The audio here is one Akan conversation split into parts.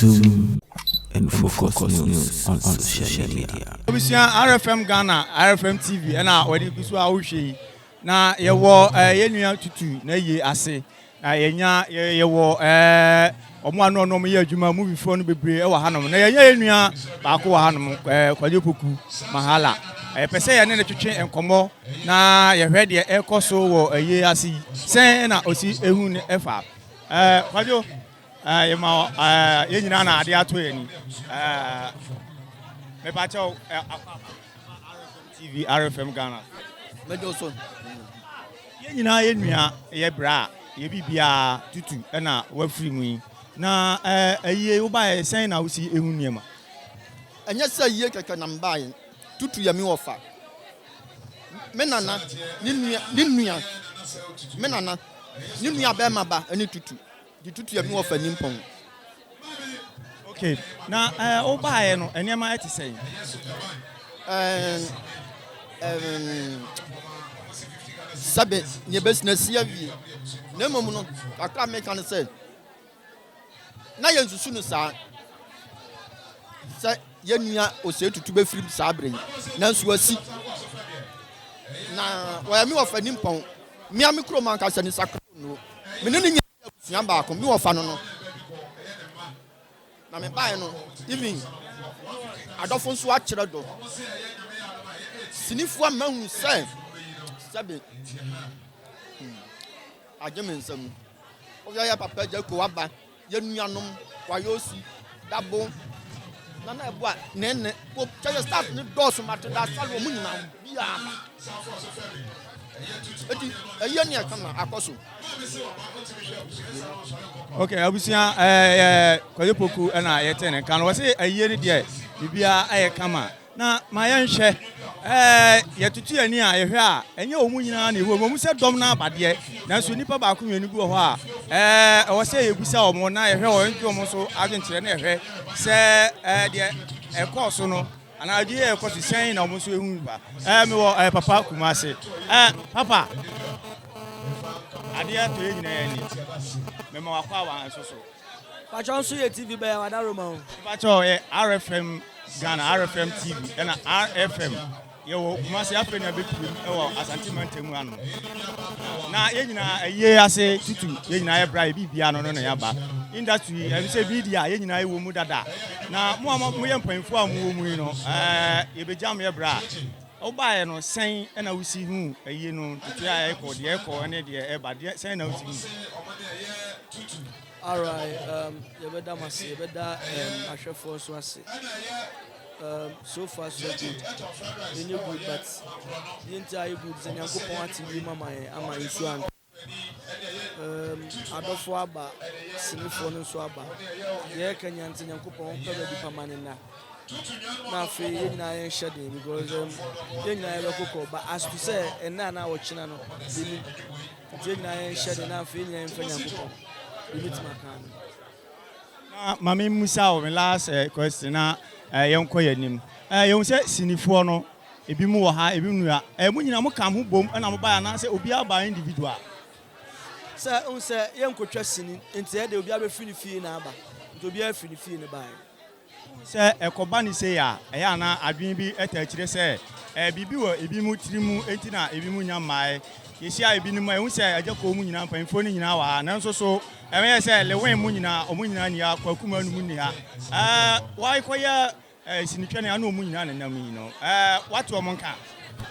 Zoom and focus, focus news, news on, on social media. Obisua RFM Ghana, RFM TV, ɛna wɔde gu so a wohwɛ yi. Na yɛwɔ eh, yɛn nua tutu na yie ase. Na yɛnya yɛwɔ ɛɛ wɔn a ne wɔn yɛ adwuma movie foɔ no bebree wɔ hanom na yɛnya yɛn nua baako wɔ hanom ɛɛ Kwadwo Poku Mahala yɛpɛ sɛ yɛne ne twetwe nkɔmmɔ na yɛhwɛ deɛ ɛrekɔ so wɔ ɛyie ase yi sɛn na ɔsi ehu ne ɛfa ɛɛ Kwadwo ɛɛ yɛma ɛɛ yɛn nyinaa na adeɛ ato yɛn ni ɛɛ mepakyɛw ɛɛ afa afa RFM TV RFM Ghana. Mɛjɔ sɔn. Yɛn nyinaa yɛ nua, yɛ bra, yɛ biribiara, tutu na wafiri mu yi. Na ayie wobaeɛ sɛn na wosi hu nneɛma? Ɛnyɛ sɛ ayie kɛkɛ na mebaeɛ, tutu yɛ me wɔfa, me nana, ne nua, me nua, me nana, ne nua barima ba ne tutu. de tutu ɛno ɔfa nimpɔn. Okay na ɛɛ wobaeɛ no nneɛma ɛte sɛn? Ɛɛm ɛɛm sɛbe nea ɛbɛsi na si awie na mmom no kakra meka no sɛ na yɛnsusu no saa sɛ. Yɛn nua Osei-Tutu bɛfirim saa berɛ yi, nanso wasi. Na ɔyɛ me wɔfa nimpɔn. Me ara me kurom ankasa ni, Sakra Onuo. Me ne no nyinaa yɛ abusua baako. Me wɔfa no no na mebaeɛ no. Even adɔfo nso akyerɛ dɔ. Sinifoɔ ama hu sɛ sɛbe hmm, agye me nsa mu. Woyɛ papa gya ko aba. Yɛn nuanom wɔayɛ osi dabo na na ɛboa ne nne ko kyɛ yɛ staff ne dɔɔso ma te da asɔre wɔn nyinaa mu biara ma eti ɛyɛ ne ɛka ma akɔ so. ok abusua ɛɛ eh, eh, eh, kɔyɛ poku ɛna yɛte ne nka no wɔsi ɛyɛ ne deɛ biribiara ɛyɛ kama. Na ma yɛnhwɛ. Ɛɛ, yɛtoto yɛn ani a yɛhwɛ a, ɛnyɛ wɔn nyinaa na ɛwom. Ɛwom sɛ dɔm no aba deɛ, nanso nnipa baako mmienu bi wɔ hɔ a, ɛɛ, ɛwɔ sɛ yɛbisa wɔn na yɛhwɛ wɔn, yɛtwe wɔn so adwenkyerɛ na yɛhwɛ sɛ, ɛɛ, deɛ ɛkɔɔ so no anaa adwene yɛ ɛkɔ so sɛn na wɔn nso ɛhu ba. Ɛɛ, mewɔ ɛɛ, papa Kumase. Ɛɛ, papa, adeɛ tɔ yɛn nyinaa yɛn ani. Mema wakɔ awa nso so. Pakyɛw nso yɛ TV bɛyɛ wada Roma o. Mepakyɛw ɔyɛ RFM Ghana RFM TV ɛna RFM yɛwɔ Kumasi afei na bɛpirim ɛwɔ Asante mantamu ano na yɛn nyinaa ayie ase tutu yɛn nyinaa yɛ bra yɛ biribia no no na yɛaba industry ɛm sɛ media yɛn nyinaa yɛwɔ mu dada na mo a moyɛ mpanyinfoɔ a mowɔ mu yi no ɛɛ yɛbɛgyam yɛ bra Wobaeɛ no, sɛn na wosi hu ayie no ntotoeɛ a ɛrekɔ, deɛ ɛrekɔ ne deɛ ɛreba? Deɛ sɛn na wosi hu? Alright, um, yɛbɛda mo ase, yɛbɛda um, ahwɛfoɔ nso ase. Um, so far so good, ɛnyɛ good but deɛ nti a ayɛ good sɛ Nyankopɔn ate wie mama yɛn ama nsuo antɔ. Erm adɔfoɔ aba sinifoɔ no nso aba yɛyɛ kanyan sɛ nyankopɔn pɛ baabi pa ma ne nna na afei yɛn nyinaa yɛnhyɛ den because um, yɛn nyinaa yɛbɛkokɔ ba asto sɛ ɛnna na ɔkyena no yɛnim nti yɛn nyinaa yɛnhyɛ den na afei yɛn nyinaa yɛmfa nyankopɔn yɛbɛtumi aka no Na ma me mmisa wo me last question na yɛn kɔ yɛn anim. Yɛn hu sɛ sinifoɔ no ebi mu wɔ ha ebi mu nua. Mo nyinaa mo ka ho bom na mo baeɛ anaasɛ obiara baa individual? Sɛ hu sɛ yɛn nkotwa sini nti ɛde obiara bɛfiri ne fie na aba nti obiara firi ne fie na ɛbaeɛ. Wohu sɛ ɛkɔba no sei a, ɛyɛ a na adwene bi taa kyerɛ sɛ biribi wɔ ebinom tiri mu nti na ebinom nnya mmae. Yehyia ebinom a, yehu sɛ agya kuo mu nyinaa, mpanyinfoɔ no nyinaa wɔ ha, nanso so ɛyɛ sɛ Lewin mu nyinaa, wɔn nyinaa nni ha, Kwaku mu anum nni ha. Ɛɛ, wɔakɔyɛ sinitwɛne a na wɔn nyinaa nenam yi no, ɛɛ, wɔate wɔn nka?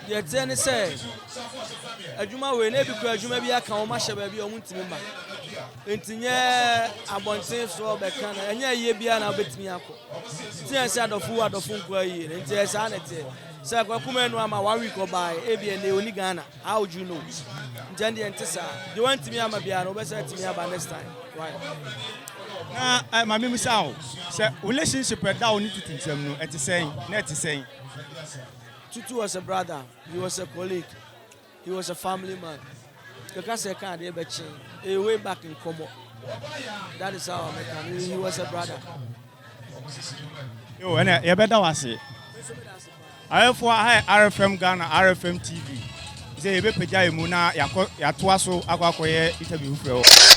deɛ ɛteɛ ne sɛ adwuma wei na ebi kura adwuma bi aka wɔn ahyɛ baabi a wɔn ntumi ma nti nyɛ abɔnten soɔ bɛka na ɛnyɛ ayie biara na wobɛtumi akɔ nti yɛn sɛ adɔfo wo adɔfo nkɔ ayie no nti ɛsaa na ɛteɛ sɛ kwakuma anu ama one week ɔbae ebi ɛnɛ ɔni ghana how do you know nti ɛndeɛ nte saa deɛ wantumi ama biara no wobɛsɛ atumi aba next time right na eh, maame mu sa o sɛ relationship ɛda o ne tutu nsɛm no ɛte sɛn na ɛte sɛn Tutu was a brother, he was a colleague, he was a family man. Bɛka sɛ ɛka adeɛ bɛkye, ɛyɛ way back nkɔmmɔ. That is how I met him. He was a brother. Yo, ɛnɛ yɛbɛda wo ase. Ayɛfoɔ aha yɛ RFM Ghana, RFM TV. Sɛ yɛbɛpagya yɛ mu na yɛatoa so akɔ akɔyɛ interview foforɔ wɔ.